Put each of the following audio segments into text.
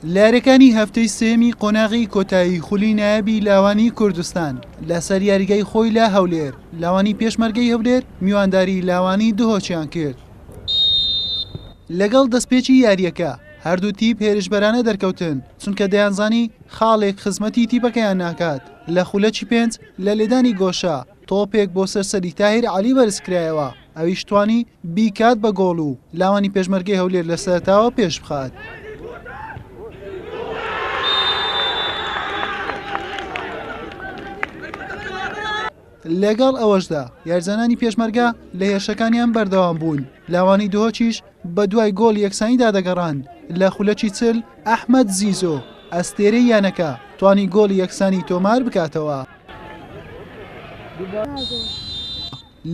لەیاریەکانی هەفتەی سێیەمی قۆناغی کۆتایی خولی نایابی لاوانی کوردستان لەسەر یاریگای خۆی لە هەولێر لاوانی پێشمەرگەی هەولێر میوانداری لاوانی دهۆچیان کرد لەگەڵ دەستپێکی یاریەکە هەردوو تیپ هێرشبەرانە دەرکەوتن چونکە دەیانزانی خاڵێک خزمەتی تیپەکەیان ناکات لە خولەکی پێنج لە لێدانی گۆشە تۆپێک بۆ سەر سەری تاهیر عەلی بەرزکرایەوە، ئەویش توانی بیکات بە گۆڵ و لاوانی پێشمەرگەی هەولێر لە سەرەتاوە پێشبخات. لەگەڵ ئەوەشدا یارزانانی پێشمەرگە لە هێرشەکانیان بەردەوام بوون، لاوانی دهۆکیش بە دوای گۆڵ یەکسانیدا دەگەڕان، لە خولەکی چل ئەحمەد زیزۆ ئەستێرەی یانەکە توانی گۆڵی یەکسانی تۆمار بکاتەوە.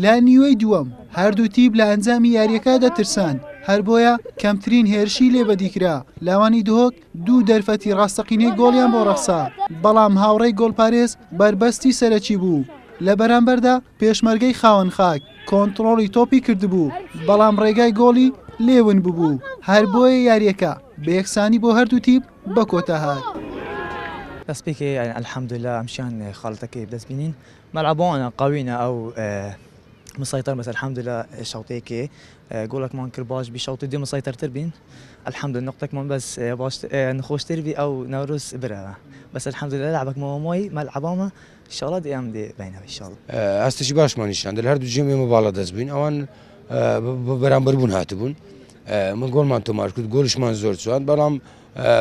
لە نیوەی دووەم هەردوو تیپ لە ئەنجامی یاریەکە دەترسان هەر بۆیە کەمترین هێرشی لێ بەدیکرا لاوانی دهۆک دوو دەرفەتی ڕاستەقینەی گۆڵیان بۆ ڕەخسا بەڵام هاوڕێی گۆڵپارێز بەربەستی سەرەکی بوو لە بەرامبەردا پێشمەرگەی خاوەن خاک کۆنتڕۆڵی تۆپی کردبوو بەڵام ڕێگای گۆڵی لێ ون ببوو هەر بۆیە یاریەکە بە یەکسانی بۆ هەردوو تیپ بەکۆتا هات. دەست پێکێ یانی الحمدللە ئەمشیان خاڵتەکەی دەست بینین مەلعبۆنە قەوینە ئەو مسەیتەر بەس الحمدللە شەوتێکێ گۆڵەکمان کرد باش بی شەوتی دی مسەیتەرتر بین الحمدللە نقطەکمان بەس باش نخۆشتر بی ئەو نەورۆز برەوە بەس الحمدللە لعبەک مەوەمۆی مەلعبامە شەڵا دی ئەم دێ بینەوە شەڵ ئاستێکی باشمان نیشان دەل هەردوو جێم ئێمە باڵا دەست بووین ئەوان بەرامبەر بوون هاتبوون من گۆڵمان تۆمار کرد گۆلشمان زۆر چوان بەڵام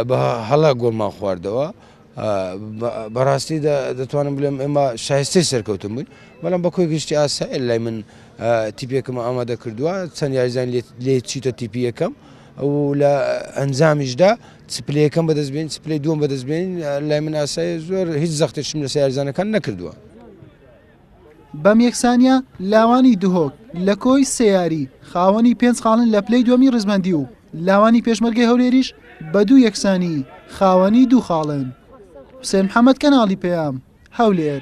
بە هەڵە گۆڵمان خواردەوە بەڕاستی دەتوانم بڵێم ئێمە شایستەی سەرکەوتن بووین بەڵام بە کۆی گشتی ئاسا لای من تیپێکم ئامادە کردووە چەند یاریزان لێ چیتە تیپی یەکەم ئەو لە ئەنجامیشدا سپلەکەم بەدەستبێن سپلی دووەم بەدەستبێن لای من ئاسای زۆر هیچ زەختێکشم لە سیارزانەکان نەکردووە. بەم یەکسانییە لاوانی دهۆک لە کۆی سەیاری خاوەنی پێنج خاڵن لە پلەی دووەمی ڕیزبەندی و لاوانی پێشمەرگەی هەولێریش بە دوو یەکسانی خاوەنی دوو خاڵن. حوسێن محەمەد کەناڵی پەیام، هەولێر.